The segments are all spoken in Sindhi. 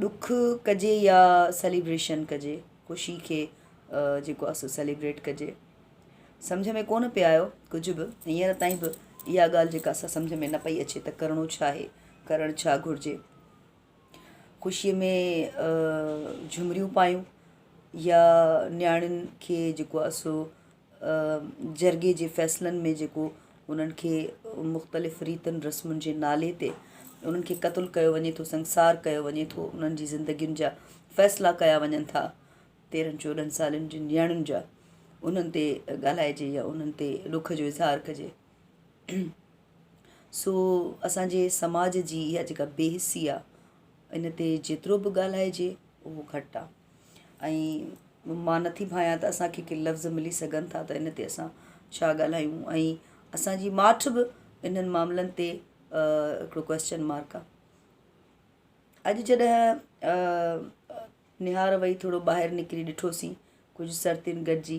ڏک ڪجي يا سيليبريشن ڪجي، خوشي کي جيڪو آهي سو سيليبريٽ ڪجي، سمجهه ۾ ڪونه پئي آيو ڪجهه به، هينئر تائين به اها ڳالهه جيڪا اسان سمجهه ۾ نه پئي اچي ته ڪرڻو ڇا آهي، ڪرڻ ڇا گهرجي. خوشيء ۾ جهمريون پايون يا نياڻين کي جيڪو آهي سو جرڳي جي فيصلن ۾ جيڪو انهن کي مختلف ريتن رسمن جي نالي تي انهن کي قتل ڪيو وڃي ٿو سنگسار ڪيو وڃي ٿو انهن جي زندگين جا فيصلا ڪيا وڃن ٿا تيرهن چوڏهن سالن جي نياڻين جا انهن تي ڳالهائجي يا انهن تي ڏک جو اظهار ڪجي سو اسانجي سماج جي اها جيڪا بي حسي آهي ان تي جيترو به ڳالهائجي اهو گهٽ آهي ۽ مان نٿي ڀانيان ته اسان کي ڪي لفظ ملي سگهن ٿا ته ان تي اسان ڇا ڳالهايون ۽ اسانجي ماٺ به انهن معاملن تي هڪڙو ڪويسچن مارڪ آ اڄ جڏهن نهار وئي ٿورو ٻاهر نڪري ڏٺوسين ڪجهه سرتين گڏجي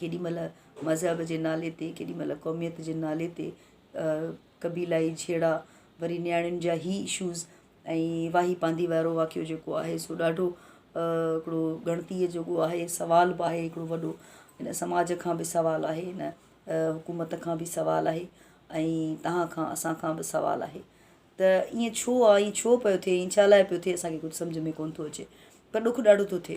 ڪيڏي مھل مذھب جي نالي تي ڪيڏي مھل قوميت جي نالي تي قبيلائي جھيڙا وري نياڻين جا ھي اشوز ۽ واھي پانڌي وارو واقعو جيڪو آھي سو ڏاڍو ھڪڙو ڳڻتي جوڳو آھي سوال بھ آھي ھڪڙو وڏو ھن سماج کان بھ سوال آھي ھن حڪومت کان بھ سوال آھي ۽ تھان کان اسان کان بھ سوال آھي تھ ايئن ڇو آھي ڇو پيو ٿئي ڇا لاء پيو ٿئي اسان کي ڪجھھ سمجھھ ۾ ڪونھ ٿو اچي پر ڏک ڏاڍو ٿو ٿئي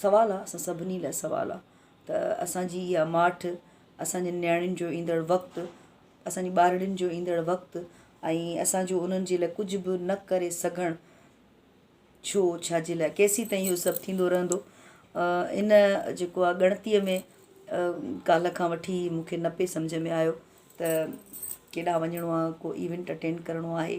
سوال آ اسان سڀني لاء سوال آ ته اسان جي اها ماٺ اسان جي نياڻين جو ايندڙ وقت اسان جي ٻارڙين جو ايندڙ وقت ۽ اسان جو انهن جي لاء ڪجهه به نه ڪري سگهڻ ڇو ڇا جي لاء ڪيسين تائين اهو سڀ ٿيندو رهندو ان جيڪو آ ڳڻتيء ۾ ڪالهه کان وٺي مونکي نه پئي سمجهه ۾ آيو ته ڪيڏانهن وڃڻو آ ڪو ايونٽ اٽينڊ ڪرڻو آهي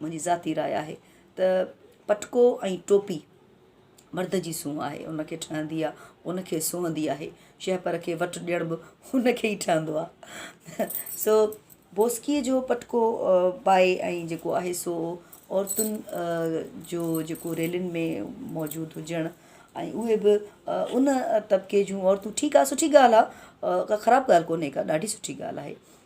منهنجي ذاتي راء آهي ته پٽڪو ۽ ٽوپي مرد جي سونهن آهي، ان کي ٺهندي آ، ان کي سهندي آهي، شهپر کي وٽ ڏيڻ به ان کي ئي ٺهندو آ. سو بوسڪيء جو پٽڪو بائي ۽ جيڪو آهي سو عورتن جو جيڪو ريلين ۾ موجود هجڻ ۽ اهي به ان طبقي جون عورتون ٺيڪ آ سٺي ڳالهه آ ڪا خراب ڳالهه ڪونهي ڪا ڏاڍي سٺي ڳالهه آهي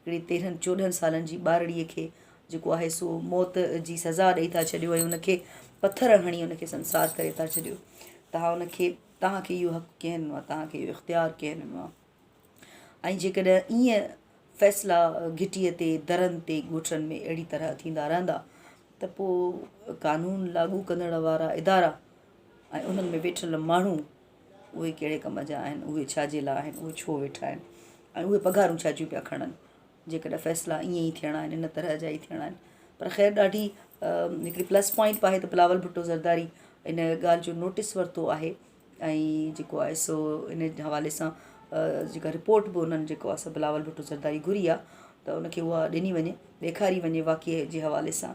هڪڙي تيرهن چوڏهن سالن جي ٻارڙيء کي جيڪو آهي سو موت جي سزا ڏئي ٿا ڇڏيو ۽ ان کي پٿر هڻي ان کي سنسار ڪري ٿا ڇڏيو توهان ان کي توهان کي اهو حق ڪنهن ڏنو آهي توهان کي اهو اختيار ڪنهن ڏنو آهي ۽ جيڪڏهن ائين فيصلا گهٽيء تي درن تي ڳوٺڙن ۾ اهڙي طرح ٿيندا رهندا ته پوء قانون لاڳو ڪندڙ وارا ادارا ۽ انهن ۾ ويٺل ماڻهو اهي ڪهڙي ڪم جا آهن، اهي ڇا جي لاء آهن، اهي ڇو ويٺا آهن ۽ اهي پگهارون ڇا جون پيا کڻن، جيڪڏهن فيصلا ائين ئي ٿيڻا آهن، ان طرح جا ئي ٿيڻا آهن. پر خير ڏاڍي هڪڙي پلس پوائنٽ به آهي ته بلاول ڀٽو زرداري ان ڳالهه جو نوٽس ورتو آهي ۽ جيڪو آهي سو ان حوالي سان جيڪا رپورٽ به انهن جيڪو آهي سو بلاول ڀٽو زرداري گهري آهي ته ان کي اها ڏني وڃي ڏيکاري وڃي واقعي جي حوالي سان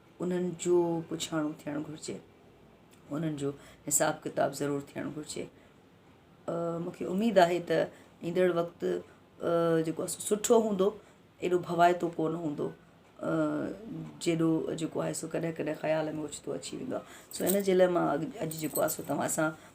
انهن جو پڇاڻو ٿيڻ گهرجي، انهن جو حساب ڪتاب ضرور ٿيڻ گهرجي. مون کي اميد آهي ته ايندڙ وقت جيڪو آهي سو سٺو هوندو، ايڏو ڀوائتو ڪونه هوندو جيڏو جيڪو آهي سو ڪڏهن ڪڏهن خيال ۾ اوچتو اچي ويندو آهي. سو ان جي لاء مان اڄ جيڪو آهي سو توهان سان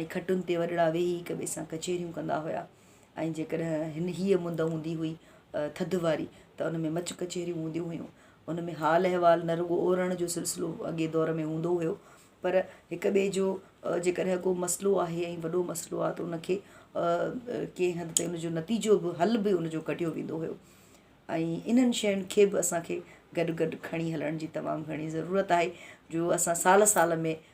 ۽ کٽن تي وڏڙا ويهي هڪ ٻئي سان ڪچهريون ڪندا هيا ۽ جيڪڏهن هيء مند هوندي هئي ٿڌ واري ته ان ۾ مچ ڪچهريون هونديون هيون. ان ۾ حال احوال نه رڳو اورڻ جو سلسلو اڳئين دور ۾ هوندو هيو پر هڪ ٻئي جو جيڪڏهن ڪو مسئلو آهي ۽ وڏو مسئلو آهي ته ان کي ڪنهن حد تائين ان جو نتيجو به حل به ان جو ڪڍيو ويندو هيو ۽ انهن شين کي به اسان کي گڏ گڏ کڻي هلڻ جي تمام گهڻي ضرورت آهي جو اسان سال سال ۾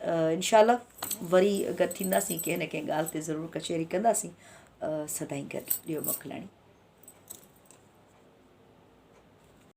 انشاء الله وري گڏ ٿينداسين ڪنهن نه ڪنهن ڳالهه تي ضرور ڪچهري ڪنداسين سدائين گڏ ڏيو موڪلاڻي